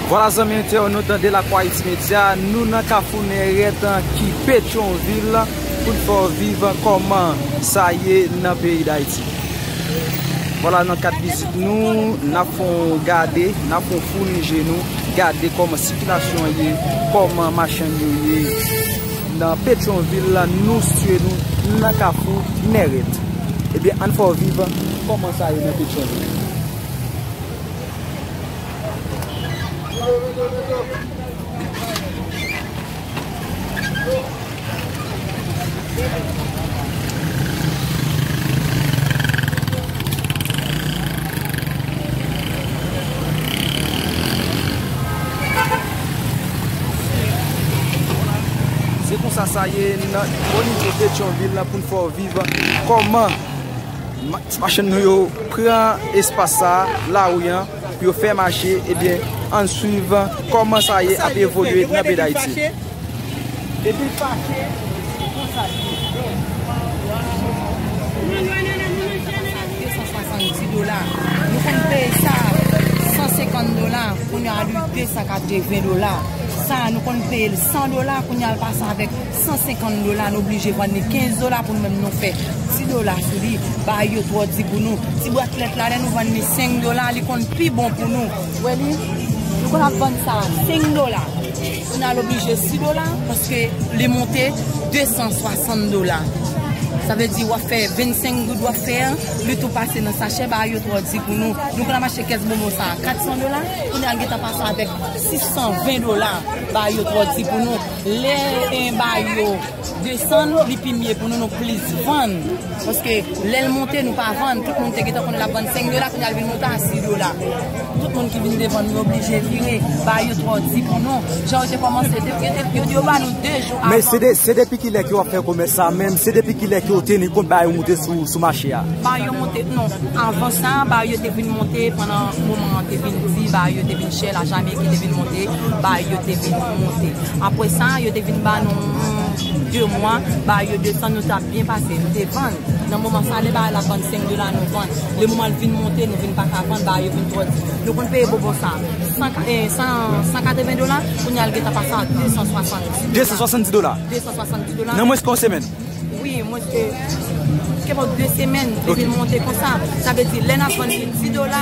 Vwala zanmi entèwonot de la kwa its medya, nou nan kafou nèret ki petyon vil pou n fè w viv kòman sa ye nan peyi dayiti. Vwala nan kad vizit nou, n ap fè w gade, n ap fè w founi je nou, gade kòman sikilasyon ye, kòman machann yo ye nan petyon vil nou sitye nou nan kafou nèret. Ebyen ann fè w viv kòman sa ye nan Petyonvil. Se konsa sa ye nan onivo Petyonvil la pou n fè w viv. Kòman ti machann nou yo pran espas sa a, lari an, pou yo fè mache, ebyen, ann swiv kòman sa ye ap evolye nan peyi Dayiti. 150 dola nou blije vann li 15 dola pou nou menm nou fè ti dola sou li bay yo twò di pou nou ti bwat lèt la lè nou vann li 5 dola li konn pi bon pou nou wè li nou konn ap vann sa 5 dola pou nou al oblije 6 dola paske li monte 260 dola sa vle di wap fè 25 goud wap fè an li tou pase nan sachè bay yo twò di pou nou nou konn ap achte kès bonbon sa 400 dola kounye a li gentan pase avèk 620 dola bay yo twò di pou nou. Lè enba yo desann li pi mye pou nou nou plis vann paske lè l monte nou pa vann tout moun te gentan konnen l ap vann 5 dola kounya l vin monte a 6 dola tout moun ki vin devan nou oblije vire ba yo twò di pou nou jan yo te kòmanse depi yo te yo di yo ba nou 2 jou avan men se de se depi kilè ke w ap fè komès sa menm se depi kilè ke w teni kont ba yo monte sou sou mache a ba yo monte non avan sa ba yo te vin monte pandan moman an te vin di ba yo te vin chè la Jamaïque ki te vin monte ba yo te vin monte apre sa yo te vin ba nou 2 mwa ba yo 2 tan nou tap byen pase nou te vann nan moman sa lè ba la vann 5 dola nou vann lè moman l vin monte nou vin paka vann ba yo vin trò di nou konn peye bonbon sa 180 dola kounye a l gentan pase a 270 dola nan mwens ke yon semèn wi mwens ke 2 semèn li vin monte konsa sa vle di lè n ap vann li 10 dola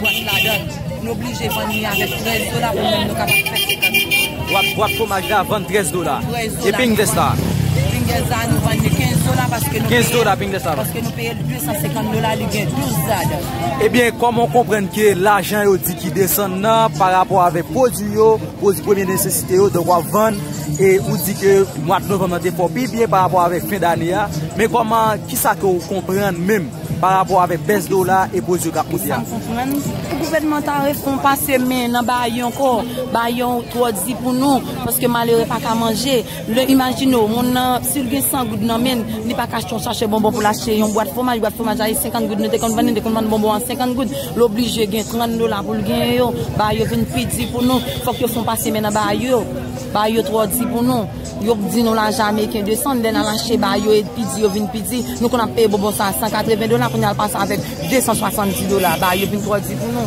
Bwat ladan, n oblije vann li avèk 13 dola pou moun yo kapab fè 50 goud. Bwat fwomaj la vann 13 dola. E pingles la? Pingles la nou vann li 15 dola paske nou peye l. 15 dola pingles la vann. Paske nou peye l 250 dola li gen 12 ladan. Ebyen kòman w konprann ke lajan yo di ki desann nan pa rapò avèk pwodui yo, pwodui premye nesesite yo donk w ap vann e ou di ke mwad novanm nan te fè w pi byen pa rapò avèk fen dane a men kòman kisa ke w konprann menm? Pa rapò avèk bès dola e pwodui yo tap moute a. M pa konprann. Pou gouvènman ta repon pase men nan baay yon kò, baay yon twò di pou nou, paske malere pa ka manje. Lè imajine w, moun nan, si l gen 100 goud nan men l, li pa ka achte yon sachè bonbon pou l achte yon bwat fwomaj, bwat fwomaj la e 50 goud nou te konn vann li, nou te konn vann bonbon an 50 goud, l oblije gen 30 dola pou l genyen yo. Baay yo vin pi di pou nou, fòk yo fon pase men nan baay yo. Baay yo twò di pou nou. Yo k di nou la Jamaican 200 lè nal an Sheba yo et pi di yo vin pi di nou konn ap peye bonbon sa 180 dola kounya al pase avek 270 dola ba yo vin tro di pou nou.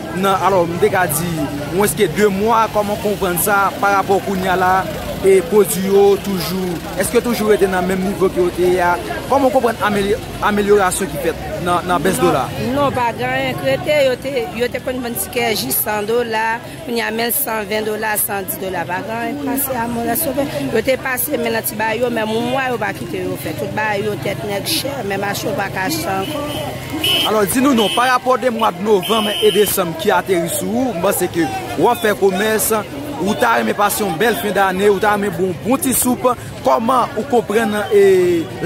nan alò m te ka di mwens ke 2 mwa kòman w konprann sa pa rapò kounya la e pwodwi yo toujou eske toujou rete nan menm nivo ke yo te ye a kòman w konprann amelyorasyon ki fèt nan bès dola a. Non pa gen anyen ki rete yo te konn vann tikè jis 100 dola kounya menl 120 dola 110 dola pa gen anyen ki pase a mwen rès ouvè yo te pase men nan ti bagay yo men moun mwa yo pa kite yo fè tout bagay yo tèt nèg chè men mache w pa ka achte ankò. Alò di nou non, pa rapò de mwa de novanm e desanm ki ateri sou ou, m panse ke w ap fè komès, ou ta renmen pase yon bèl fen dane, ou ta renmen bou yon bon ti soup, kòman ou konprann e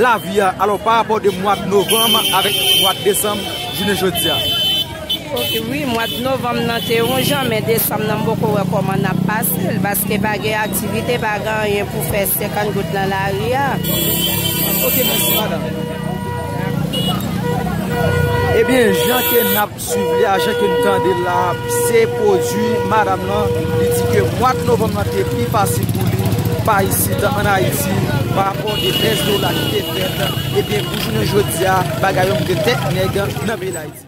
lavi a, alò pa rapò de mwa de novanm avèk mwa de desanm jounen jodi a. Ok wi, mwa de novanm nan te yon jan, men desanm nan m poko wè kòman n ap pase l, paske pa gen aktivite, pa gen anyen pou fè 50 goud nan lari a. Ok mèsi madanm. Ebyen jan ke nap swiv li a, jan ke nou tande l la, se pwodui madam lan, li di ke mwa novanm lan te pi fasil pou li, pa isit an Ayiti, pa rapò de bès dola ki te fèt, ebyen pou jounen jodi a, bagay yo moutre tèt nèg nan peyi Dayiti.